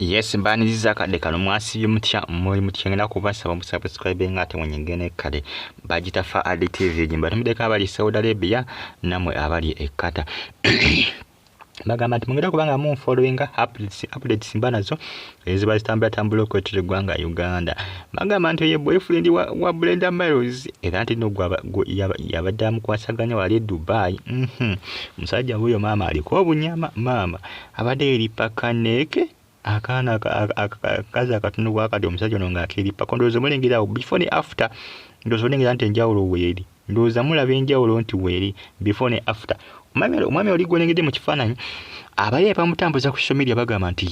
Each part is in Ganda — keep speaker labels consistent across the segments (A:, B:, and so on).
A: Yes mbaniriza akadde kano mwasibye mutya muli mutya ngenda kubasaba musubscribe nga ate mwenyinge nekkale bagitafa adi tv gimba tumideko abali saudi arabia namwe abali ekkata bagamba nti mugenda kubanga mu following updates updates mba nazo eziba zitambula tambula okwetira eggwanga uganda bagamba nti oye boyfriend wa, wa brenda miles era nti no yabadde amukwasaganya wali e dubai mhm. musajja wuyo maama aliko obunyama maama abadde yeripa kaneeke akaana akazi akatundu bwakati omusajja ono nga akeripa ko ndowooza mulengerawo before ne after ndowooza olengera nti enjawulo weeri ndowooza mulaba enjawulo nti weeri before ne after omwami oli gwolengedde mu kifaananyi abali abamutambuza ku social media bagamba nti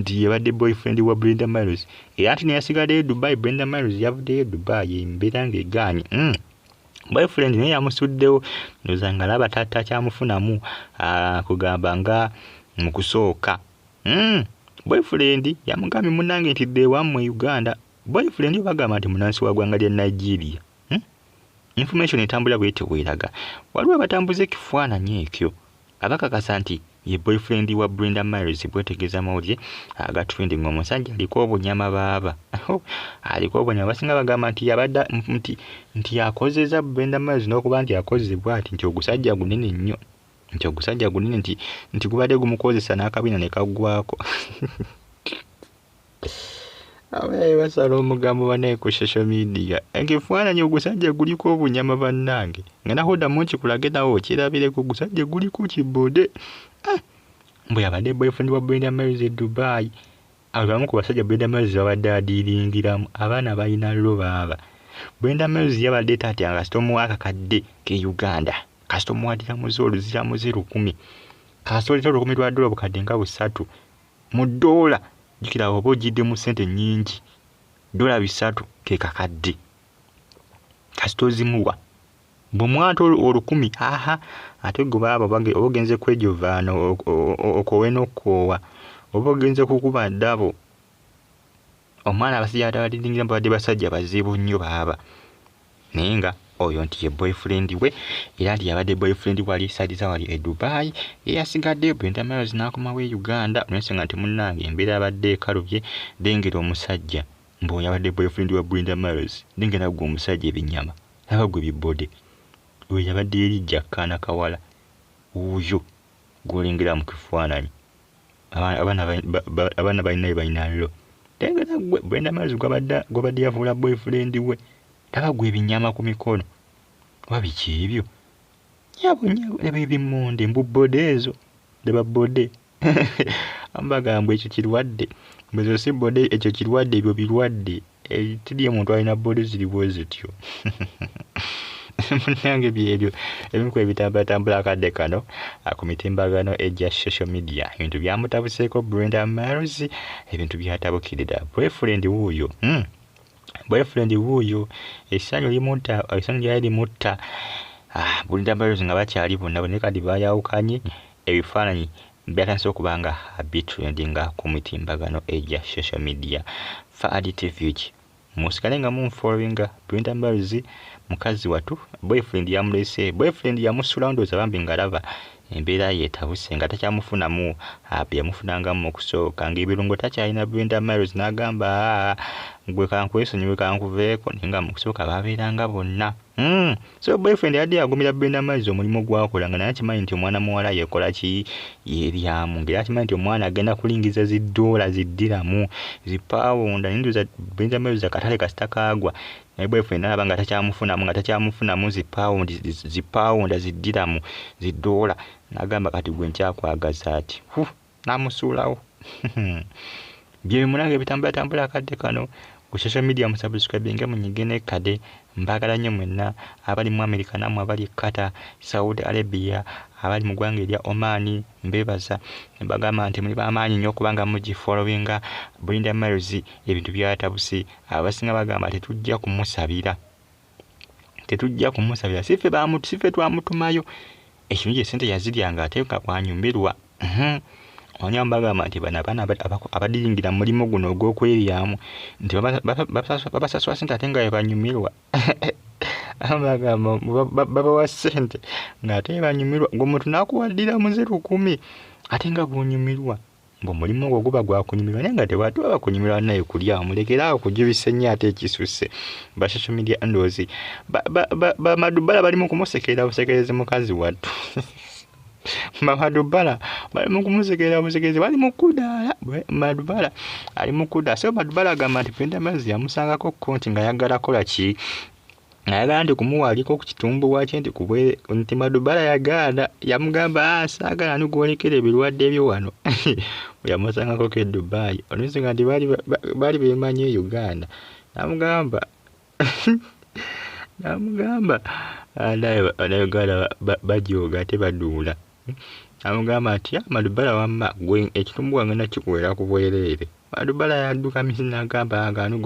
A: nti yebadde boyfriend wa brenda miles era nti neyasigaddeyo dubai brenda miles yavuddeyo dubai embeera ngaegaanyi mm. boyfriend naye yamusuddewo ndoza nga laba tata kyamufunamu ah, kugamba nga mu kusooka hmm, boyfriend yamugambye munange nti dde wammwe uganda boyfriend obagamba nti munansi wa gwanga lya nigeria hmm? information etambula bwetyo bweraga waliwo abatambuza ekifaananyi ekyo Abakakasa nti ye boyfriend wa Brenda Miles bwetegeza mawulire aga trending omusajja aliko obunyama baaba aliko obunyama basinga bagamba nti yabadde nti nti yakozeza Brenda Miles n'okuba nti akozze bwati nti ogusajja gunene nnyo nti ogusajja gunene nti nti gubadde gumukozesa n'akabina ne kaggwako abayaye basala omugambo banaye ku social media ngefaananyi ogusajja guliko obunyama bannange nga naho oddamu nkikulage nawe okirabireko ogusajja guliko kibode ah, mbu yabadde boyfriend wa brenda maris e dubai abo bamu ku basajja brenda maris babadde adiiringiramu abaana balina llo baaba brenda maris yabadde taatya nga kasita omuwa akakadde ke uganda kasita omuwadiramuze oluziramuze lukumi kasita oleta olukumi lwa dola obukadde nga busatu Mu ddoola, jjukira oba ojjidde mu ssente nnyingi, ddoola bisatu ke kakadde. Kasita ozimuwa bwe mwata olukumi aha ate gwe baaba oba ogenze kwejovaana okoowe n'okukoowa oba ogenze kukuba ddabo omwana abasajja atabadidingira babadde basajja bazibu nnyo baaba naye nga oyo nti ye boyfriend we era nti yabadde boyfriend wali sadiza wali e dubai eyasigadde brenda miles n'akomawo e uganda olwensonga nti munnange embeera abadde ekalubye lengera omusajja mbuoyo abadde boyfriend wa brenda miles lengera gwe omusajja ebinyama laba gwe bibode oyo yabadde eri jakkaana kawala wuuyo gwolengera mu kifaananyi abaana balina bebalina lo tengera gwe brenda mazi gwabadde yafuula boyfriend we laba gwe ebinyama ku mikono oba biki ebyo nyabo nyabo laba ebimonde mbu bode ezo laba bode ambaga mbu ekyo kirwadde mbu ezo si bode ekyo kirwadde ebyo birwadde Eh, tidi omuntu alina body ziri bwe zityo munange byebyo ebimu ku ebitambulatambula akadde kano ah, ku mitimbagano egya social media ebintu byamutabuseeko brenda mars ebintu byatabukirira boyfriend wuuyo hmm. boyfriend wuuyo esanyu limutta esanyu lyali limutta ah, brenda mars nga bakyali bonna bonna kati bayawukanye ebifaananyi byatandise okuba nga bitrendinga ku mitimbagano egya social media faadi tvg musigale nga munfollowinga brenda mbazi mukazi watu boyfriend yamulese boyfriend yamusulandoza bambi ngalaba embeera yetabuse nga takyamufunamu byeyamufunanga mu kusooka ngaebirungo takyalina brenda miles n'agamba gwe kankwesonyiwe kankuveeko naye nga mu kusooka babeeranga bonna Hmm. So boyfriend yadde yagumira Brenda Maize omulimu gwakola nga naye akimanyi nti omwana muwala yekola ki yeryamu ngera akimanyi nti omwana agenda kulingiza zi doola zi ddiramu zi pawunda naye ndoza Brenda Maize akatale kasita kaagwa naye boyfriend alaba nga takyamufunamu nga takyamufunamu zi pawundi zi pawunda zi ddiramu zi doola nagamba kati gwe nkyakwagaza ati huh. namusuulawo bye munange bitambula tambula akadde kano ku social media musubscribinge munyige nekkade mbaagala nnyo mwenna abali mu america naamwe abali e qatar saudi arabia abali mu ggwanga erya oman mbeebaza bagamba nti muli bamaanyi nnyo okubanga mugifolowinga bulinda miles ebintu byatabusi abasinga bagamba tetujja kumusabira tetujja kumusabira sife bamu sife twamutumayo ekintu kye sente yazirya nga ate nga bwanyumirwa mhm. onya mbagamba nti bano abaana abadiyingira mulimu guno ogw'okweryamu nti babasasula sente ate nga bebanyumirwa bagamba babawa sente ng'ate banyumirwa gwe mutu nakuwaddira muze lukumi ate nga gwonyumirwa mbu mulimu ogwo guba gwakunyumirwa naye nga tewali tuba bakunyumirwa naye kulya omulekera awo kujubisa ennyo ate ekisusse ba social media ndozi bamadubbala bali mu kumusekerera busekerezi mukazi wattu madubbala bali mu kumusekerera busekerezi bali mu kudaala madubbala ali mu kudaala so madubbala agamba nti penda mazzi yamusangako kko nti nga yaggala kola ki nayagala nti kumuwalika okukitumbuwa kye nti kubwere nti madubala yagaana yamugamba ah, saagala ni gwolekera ebirwadde byo wano yamusangako ke dubai olwensonga nti baali bemanyi e uganda namugamba namugamba ah, naye uganda bajooga ate baduula amugamba nti ah, madubala wamma gwe ekitumbuwa ngenda kikuwera ku bwereere madubala yadduka misi nagamba ah, ngano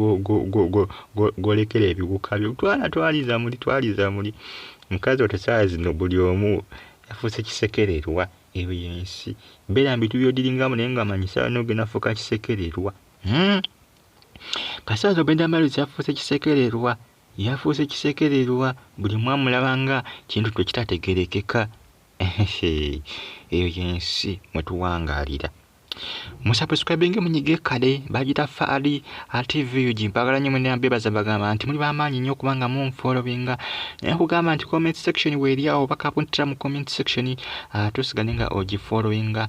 A: golekera ebiwuka byo twala twaliza muli twaliza muli mukazi ote saawa zino buli omu yafuuse kisekererwa eyo yensi beera mbitu byodiringamu naye nga manyi saawa nogenda fuuka kisekererwa hmm? kasaawa zogenda maluzi yafuuse kisekererwa Yafuuse kisekererwa buli mwamulaba nga kintu twe kitategerekeka. Eyo yensi mwe tuwangaalira. Musubscribinge munyige kale bagita faali atvug mpagala nnyo mwena bebaza bagamba nti muli bamaanyi nnyo kubanga munfolowinga naye kugamba nti comment section weeri awo bakapuntira mu comment section ah, tusigale nga ogifolowinga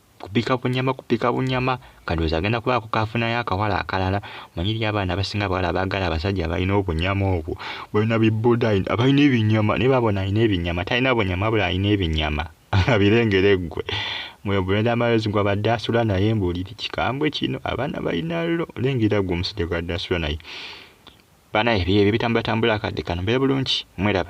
A: Kupika bunyama kupika bunyama kandowooza agenda kubaako kaafunayo akawala akalala manyi eri abaana abasinga abawala abaagala abasajja abalina obunyama obwo balina bibuda abalina ebinyama naye babona alina ebinyama talina bunyama bula alina ebinyama abirengera eggwe mweyo bulenda amayozi gwa badde asula naye mbuuliri kikambwe kino abaana balina lo lengera gwe omusajja gwadde asula naye banaye ebyo ebyo bitambulatambula akadde kano mbeera bulungi mweraba